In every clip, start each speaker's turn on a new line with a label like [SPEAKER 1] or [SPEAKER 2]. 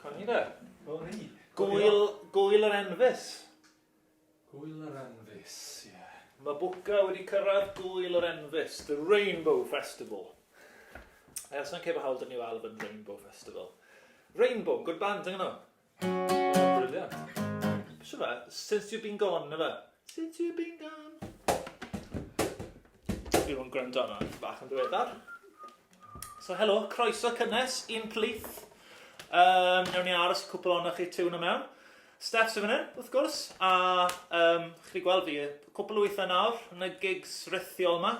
[SPEAKER 1] Coni fe? Coni. Gwyl, gwyl yr enfys. Gwyl yr enfys, ie. Yeah. Mae Bwca wedi cyrraedd gwyl yr enfys, the Rainbow Festival. Ers yn cefo hawl dyn ni o Alban Rainbow Festival. Rainbow, good band yng Nghymru. Since you've been gone, na fe? Since you've been gone. Fi o'n gwrando arno, bach yn ddiweddar. So, helo, croeso cynnes i'n plith. Um, newn ni aros cwpl o'na chi tiwn y mewn. Steph sy'n fyny, wrth gwrs, a um, chi gweld fi, cwpl o weithiau nawr yn y gigs rithiol yma.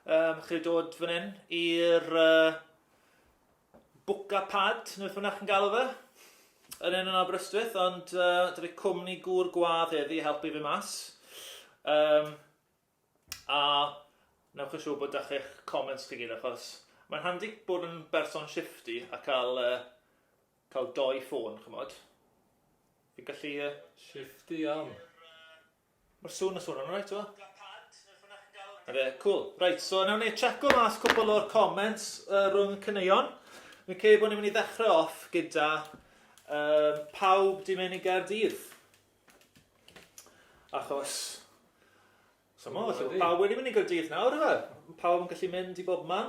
[SPEAKER 1] Um, chi dod fan hyn i'r uh, Bwca Pad, neu beth bynnag chi'n galw fe, yn enw yn Aberystwyth, ond uh, dwi fi cwmni gŵr gwadd heddi i helpu fi mas. Um, a newch yn siŵr bod â chi'ch comments chi gyd, achos mae'n handi bod yn berson shifty a cael, uh, cael doi ffôn, chymod. Fi'n gallu... Uh... Shifty iawn. Ma'r sŵn yn swnio'n alright t'mo'? Black Pant neu rhywbeth chi'n galw fe. 'Na fe, cŵl. Reit, so newn ni tsieco mas cwpwl o'r comments yy rhwng y caneuon. Fi'n credu bo' ni myn' i ddechre off gyda yym pawb 'di myn' i Gaerdydd. Achos s'mo' falle bo' pawb wedi myn' i Gaerdydd nawr yfe? M- pawb yn gallu mynd i bobman.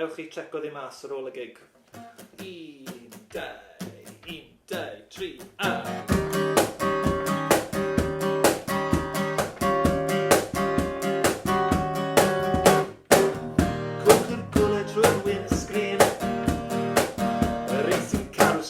[SPEAKER 1] Ewch i tseco ddi mas ar ôl y gig. Un, dau, un, dau, tri, a!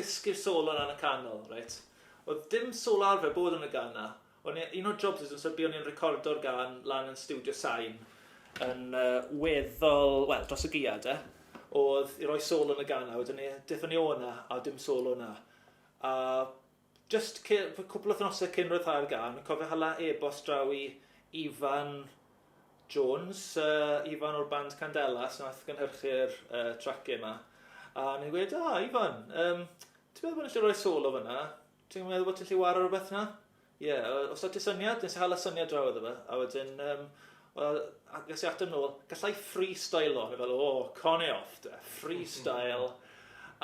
[SPEAKER 1] dysgu'r solo lan y canol, reit? Oedd dim solo arfer bod yn y gan na. O'n un o'r jobs ydyn so o'n i'n recordo'r gan lan yn studio sain yn uh, weddol, wel, dros y giad, e. Oedd i roi solo yn y gan na, wedyn ni, dethon ni o'na, a dim solo na. A jyst cy- fy- cwpl o wythnose cyn ryddhau'r gân, fi'n cofio hala e-bost draw i Ifan Jones, yy, Ifan o'r band Candelas, nath gynhyrchu'r uh, trac yma. A o'n i'n gweud, ah, Ifan, um, ti'n meddwl bod ni'n lle rhoi solo fyna? Ti'n meddwl bod ti'n lle war ar rhywbeth na? Ie, yeah, os o'r ti syniad, nes i hala syniad draw iddo fe. A wedyn, um, ges i ateb nôl, gallai freestyle o'n, fel, o, oh, con e off, da, freestyle.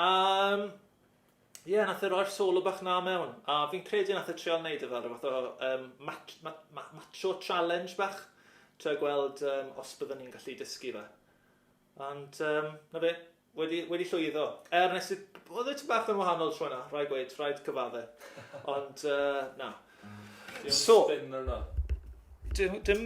[SPEAKER 1] um, Ie, nath e roi'r solo bach 'na mewn, a fi'n credu nath e treial neud e fel ryw fath o yym mat- ma- ma- macho challenge bach, trio gweld yym os bydden ni'n gallu dysgu fe. Ond yym 'na fe, wedi wedi llwyddo. Er nes i... Oeddet ti bach yn wahanol tro 'na, rhaid gweud, rhaid cyfadde. Ond yy na. So... Dim spin arno. Dim dim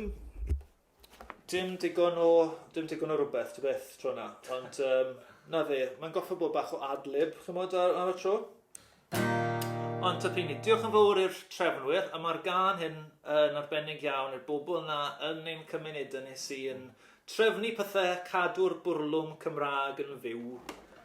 [SPEAKER 1] Dim digon o dim digon o rwbeth ta beth tro 'na ond yym 'na fe mae'n goffo bod bach o ad-lib ch'mod ar ar y tro. Ond ta pini. Diolch yn fowr i'r trefnwyr a ma'r gân hyn yn arbennig iawn i'r bobl 'na yn ein cymuneda ni sy yn trefnu pethe cadw'r bwrlwm Cymrâg yn fyw.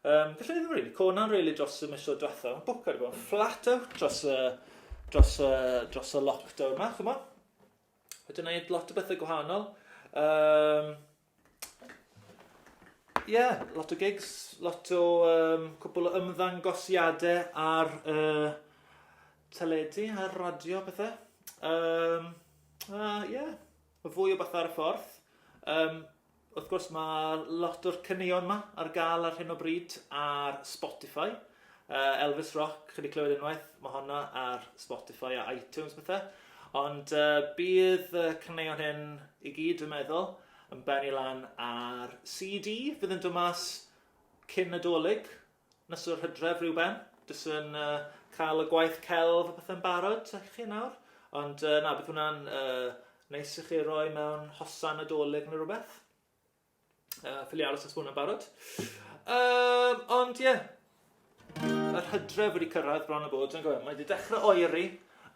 [SPEAKER 1] Yym, felly ddim rili. Co na'n rili dros y misoedd diwetha. Mae bwc wedi bod yn flat out dros y, dros y, dros y lockdown yma, chwma. Wedi gwneud lot o bethau gwahanol. Um, yeah, lot o gigs, lot o um, cwbl o ymddangosiadau ar uh, teledu, ar radio, pethau. Um, uh, yeah, Fwy o bethau ar y ffordd. Um, wrth gwrs mae lot o'r caneuon yma ar gael ar hyn o bryd ar Spotify. Uh, Elvis Rock, chi wedi clywed unwaith, mae honna ar Spotify a iTunes bethau. Ond uh, bydd y caneuon hyn i gyd, dwi'n meddwl, yn benni lan ar CD. Fydd yn dod mas cyn nadolig, Nos yr Hydref rywben, jyst yn yy ca'l y gwaith celf a pethe'n barod ta chi nawr, ond yy na bydd hwnna'n yy neis i chi roi mewn hosan Nadolig ne' rwbeth. Yy ffili aros os ma' hwnna'n barod. Yym ond ie. Yeah. Yr Hydref wedi cyrraedd bron a bod on'd yw e? Mae 'di dechre oeri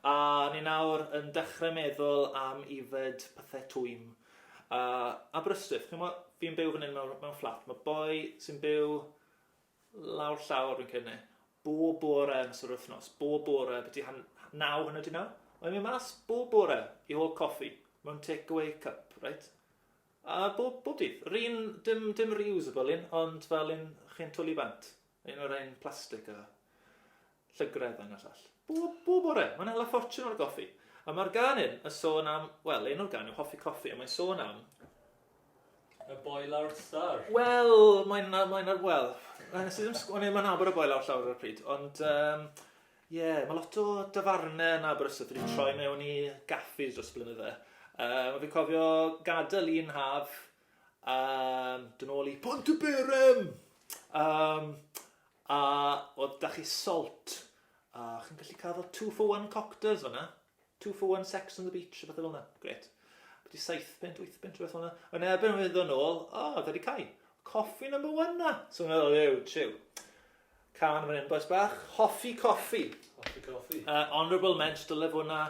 [SPEAKER 1] a ni nawr yn dechre meddwl am ifed pethe twym a Aberystwyth. Ch'mo' fi'n byw fan 'yn mewn mewn fflat ma' boi sy'n byw lawr llawr fi'n credu 'ny. Bob bore yn ystod yr wythnos. Bob bore byti han- h- naw hanner 'di naw. Mae'n mynd mas bob bore i hol coffi mewn take-away cup, reit? A bob, bob dydd. Yr un, dim, dim reusable un, ond fel un chi'n twli bant. Un o'r ein plastig a... Llygredd a ngwaith all. Bob, bob bore, mae'n hala ffortiwn o'r goffi. A mae'r gan hyn yn sôn am, wel, un o'r gan yw hoffi coffi, a mae'n sôn am... Y boi lawr llawr. Wel, mae'n, mae'n, wel, mae'n sydd yn, o'n i'n mae'n abod y boi lawr llawr ar y pryd, ond, um, ie, yeah, mae lot o dafarnau yn Aberystwyth wedi troi mewn i gaffis dros blynydde. Um, a fi'n cofio gadael un haf, um, dyn ôl i Pont y Berem! Um, A oedd 'da chi salt? A chi'n gallu cael fel two for one cocters fanna? Two for one sex on the beach, rhywbeth fel yna. Gret. Byddi saith pint, wyth pint, rhywbeth fel yna. Yn erbyn oedd ddod nôl, o, oh, da di cael. Coffi number one na. So yn meddwl, ew, triw. Can fan hyn, boes bach. Hoffi coffi. Hoffi coffi. Uh, honourable mention, dyle fod na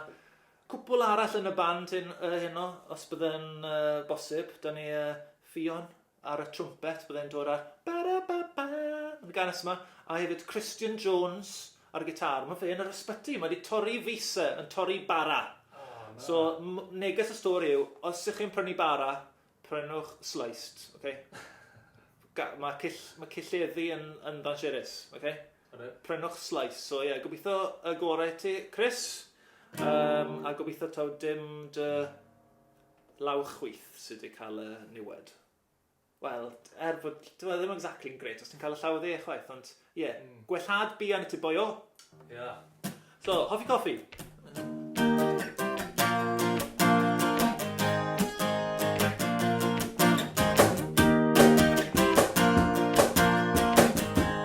[SPEAKER 1] cwpl arall yn y band hyn, uh, heno, os byddai'n uh, bosib. Da ni uh, Fion, ar y trwmpet, byddai'n dod ar ba-ra-ba-ba yn y ganes yma, a hefyd Christian Jones ar y gitar. Mae fe yn yr ysbyty, mae wedi torri fisa, yn torri bara. Oh, so, neges y stori yw, os ych chi'n prynu bara, prynwch sliced, okay? mae, cill, mae cilleddi yn, yn ddansiris, okay? Prynwch slice, so ie, yeah, gobeithio y gorau ti, Chris, um, a gobeithio taw dim dy Lawr chwith sy wedi cael y niwed. Wel, er bod... Dyw e ddim exactly yn grêt os ti'n cael y llaw dde chwaith, ond ie. Gwellhad buan i ti boio. Ia. So, hoffi coffi?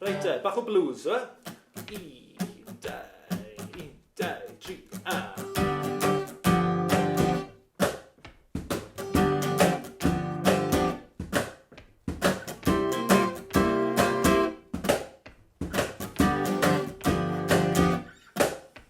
[SPEAKER 1] Reit te, bach o blues, yw e? Un, dau, un, dau, tri, a...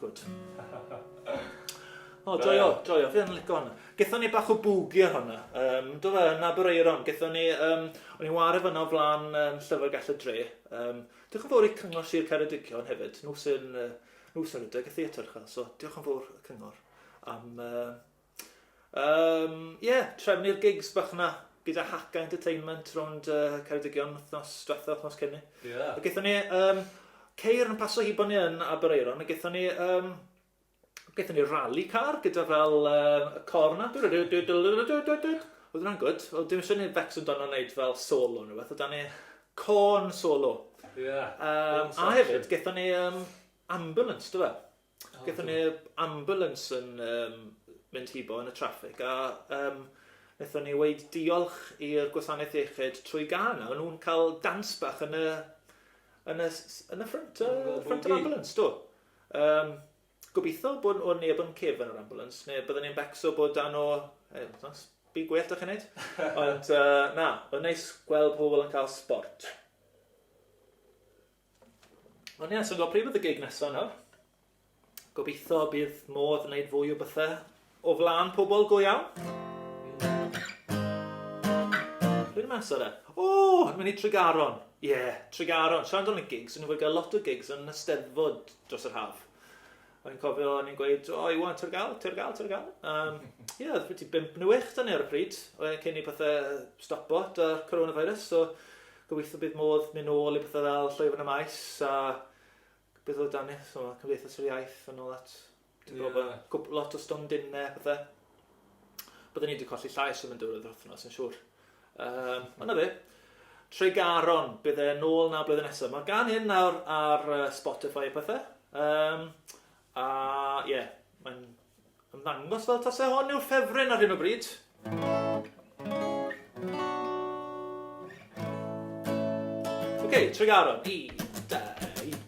[SPEAKER 1] Good. O, joio, joio, fi yn lico hwnna. Gethon ni bach o bwgi ar hwnna. Um, do fe, yn Abereiron, gethon ni, um, o'n i'n wario fyna o flan um, Llyfrgell y Dre. Um, diolch yn fawr i Cyngor Sir Ceredigion hefyd, nhw sy'n uh, nhw sy'n rhedeg y theatr, so diolch yn fawr y Cyngor am uh, Yym, ie, trefnu'r gigs bach 'na gyda Haka Entertainment rownd yy Ceredigion wthnos dwetha, wthnos cyn 'ny. Ie. A gethon ni yym ceir yn paso hibo ni yn Aberaeron a gethon ni yym gethon ni rali car gyda fel yym y cor 'na dŵ dy dy dy dŵ dy dy dy dy dy. Odd wnna'n gwd, wel dwi'm isio neud Becs amdano neud fel solo ne' wbeth, odd 'da ni cân solo. Ie. Yym a hefyd gethon ni yym ambulance do fe? Gethon ni yy ambulance yn yym mynd hibo yn y traffig a yym nethon ni weud diolch i'r gwasanaeth iechyd trwy gân a o'n nhw'n ca'l dance bach yn y yn y s- yn y ffrynt yy ffrynt yr ambulance do yym gobitho bo' n- o' neb yn cefn yr ambulance ne' bydden ni'n becso bod dan o yy os by' gwell da chi'n neud ond yy na o'dd neis gweld pobol yn ca'l sbort. Ond ie, yeah, so gwybod pryd oedd y gig nesaf nawr? Gobeithio bydd modd wneud fwy o bethau o flaen pobl go iawn. Dwi'n mas ar e. O, yn mynd i Tregaron. Ie, yeah, Tregaron. Siarad am y gigs, o'n i'n fwy gael lot o gigs yn y steddfod dros yr haf. O'n cofio o'n i'n gweud, oh, you want Turgal, Turgal, Turgal. Um, yeah, oedd wedi bimp neu wech dan ni ar y pryd, cyn i pethau stopo da coronavirus, so gobeithio bydd modd mynd ôl i pethau fel llwyfan y maes, a beth oedd dan ni, so cymdeithas yr iaith yn ôl at, ti'n yeah. gwybod, lot o stondinne, pethau. Byddwn ni wedi colli llais yn mynd o'r wythnos yn siŵr. Yym, a 'na fe. Tregaron, bydd e nôl 'na blwyddyn nesa. Mae gan hyn nawr ar uh, Spotify a pethe. Um, a ie, yeah, mae'n ymddangos fel tase hon yw'r ffefryn ar hyn o bryd. Oce, okay, Tregaron, i, da, i,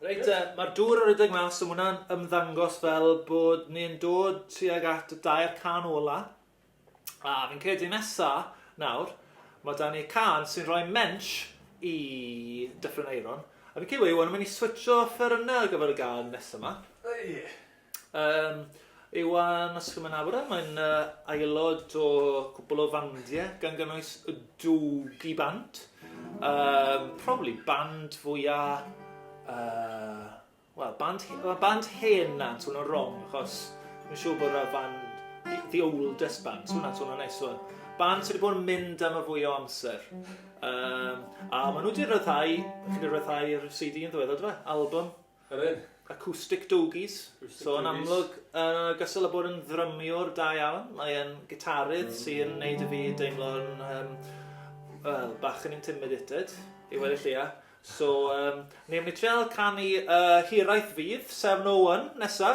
[SPEAKER 1] Reit te, ma'r dŵr yn rhedeg mas, so ma' wnna'n ymddangos fel bod ni'n dod tuag at y dair cân ola, a fi'n credu nesa, nawr, ma' 'da ni cân sy'n rhoi mensh i Dyffryn Aeron, a fi'n credu bod Iwan yn mynd i switsio offeryne ar gyfer y gân nesa 'ma. O ie. Yym, Iwan Ysgymynabra, mae'n yy aelod o cwpwl o fandiau, gan gynnwys y Dwgi Band. Yym, probably band fwya yy, wel, band he- wel, band hen na, swn i'n wrong, achos dwi'n siŵr bod yna fan the, the oldest band, swn i'n swn i'n neis swn. Band sydd wedi bod yn mynd am y fwy o amser. Yym, a maen nhw wedi rhyddhau, chi wedi rhyddhau'r CD yn ddiweddar, do fe? Album? 'Na fe, Acoustic Doughies, so yn amlwg yn ogystal â bod yn ddrymiwr da iawn, mae e'n gitarydd sy'n neud i fi deimlo'n yym wel, bach yn intimidated, i weud y lleia. So, um, ni'n mynd i trial canu uh, Hiraeth Fydd, 701, nesa.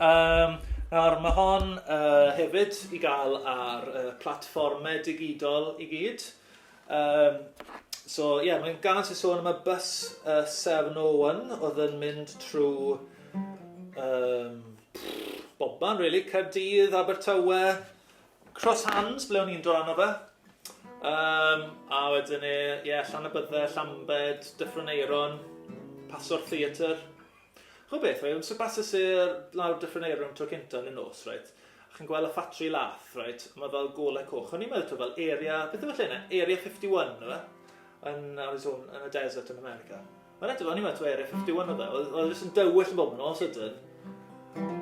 [SPEAKER 1] Um, nawr, mae hon uh, hefyd i gael ar uh, platfformau digidol i gyd. Um, so, ie, yeah, mae'n gan sy'n sôn am y bus uh, 701 oedd yn mynd trwy um, bobman, really, Caerdydd, Abertawe, Cross Hands, ble o'n i'n dod arno fe. Um, a wedyn e, ie, yeah, Llan y Bydde, Llambed, Dyffryn Eiron, Pasor Theatr. Rhywbeth, reit, amser basys i'r lawr Dyffryn Aeru am tro cynta yn y nos, reit, a chi'n gweld y ffatri lath, reit, a mae fel golau coch. O'n i'n meddwl to fel area, beth yw lle yna? Area 51, yw e? Yn Arizona, yn y desert yn America. Mae'n edrych, o'n i'n meddwl to area 51 oedd e. Oedd e jyst yn dywyll yn bob yn nos ydyn.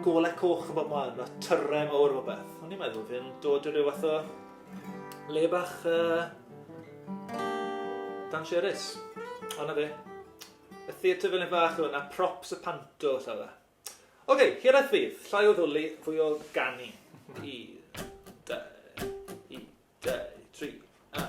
[SPEAKER 1] Golau coch yn bob man, a tyrre mawr o beth. O'n i'n meddwl fi'n dod i ryw fath o le bach uh, dan sherys. Ond na fe. Y theatr fel un fach oedd yna, props a panto, llaw dda. Ok, hiraeth fydd, llai o ddwli, fwy o ganu. I, da, i, da, tri, a.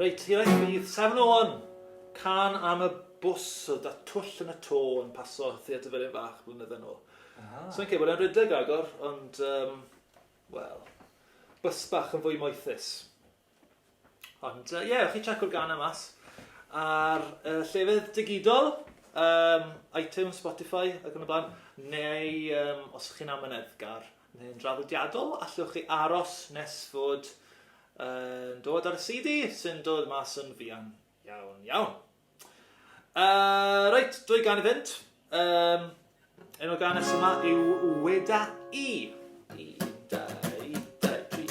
[SPEAKER 1] Reit, hira i chwith, Simon Owen! Can am y bws oedd da twll yn y to yn paso Theatr Felin Fach blynedd yn ôl. Ah. So yn cefod e'n rhedeg agor, ond, um, wel, bus bach yn fwy moethus. Ond, ie, uh, yeah, chi checko'r gan am mas. Ar uh, llefydd digidol, um, iTunes, Spotify ac yn y blaen, neu um, os chi'n amyneddgar neu'n draddodiadol, allwch chi aros nes fod yn dod ar y CD sy'n dod mas yn fuan iawn iawn. Uh, reit, dwy gan i fynd. Um, enw gan nes yma yw Weda I. I, da, i, da, i, tri,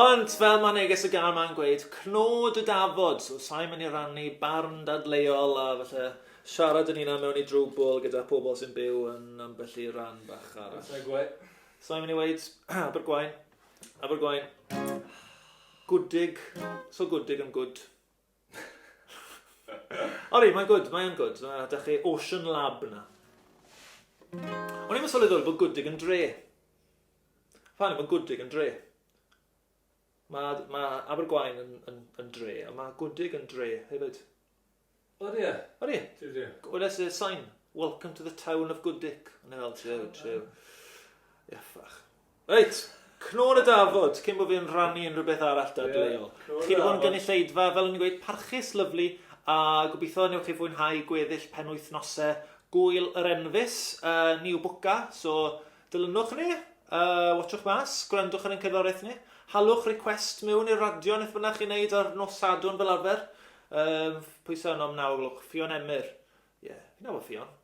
[SPEAKER 1] Ond, fel mae neges y gan ma'n gweud, cnod y dafod, so sa'i mynd i rannu barn dadleuol a falle siarad yn hunan mewn i drwbwl gyda pobl sy'n byw yn ambell i ran bach arall. Sa'i gweud. Sa'i mynd i weud, Abergwaun, Abergwaun, gwdig, so gwdig yn gwd. O'n i, mae'n gwyd, mae'n gwyd. Mae ydych chi Ocean Lab yna. O'n i'n mysol ddweud bod gwdig yn dre. Ffa'n i'n gwdig yn dre. Mae, mae Abergwain yn, yn, yn dre, ond mae gwdig yn dre hefyd. O ie. O ie. Dwi'n dre. Gwnes y sain, welcome to the town of Gwdig. Yn ei fel, tiw, tiw. Ie, ffach. Reit, Cnôn y Dafod, cyn bod fi yn rhannu unrhyw beth arall dadleuol. Chi 'di bod yn gynulleidfa, fel o'n i'n gweud, parchus, lyfli, a gobeithio newch chi fwynhau gweddill penwythnose Gŵyl yr Enfys, yy, New Booka, so dilynwch ni, yy, watsiwch mas, gwrandwch ar ein cerddoriaeth ni, halwch request miwn i'r radio neth bynnag chi'n neud ar nos Sadwrn fel arfer, yym, pwy sy yno am naw o'r gloch? Ffion Emyr. Ie, fi'n nabod Ffion.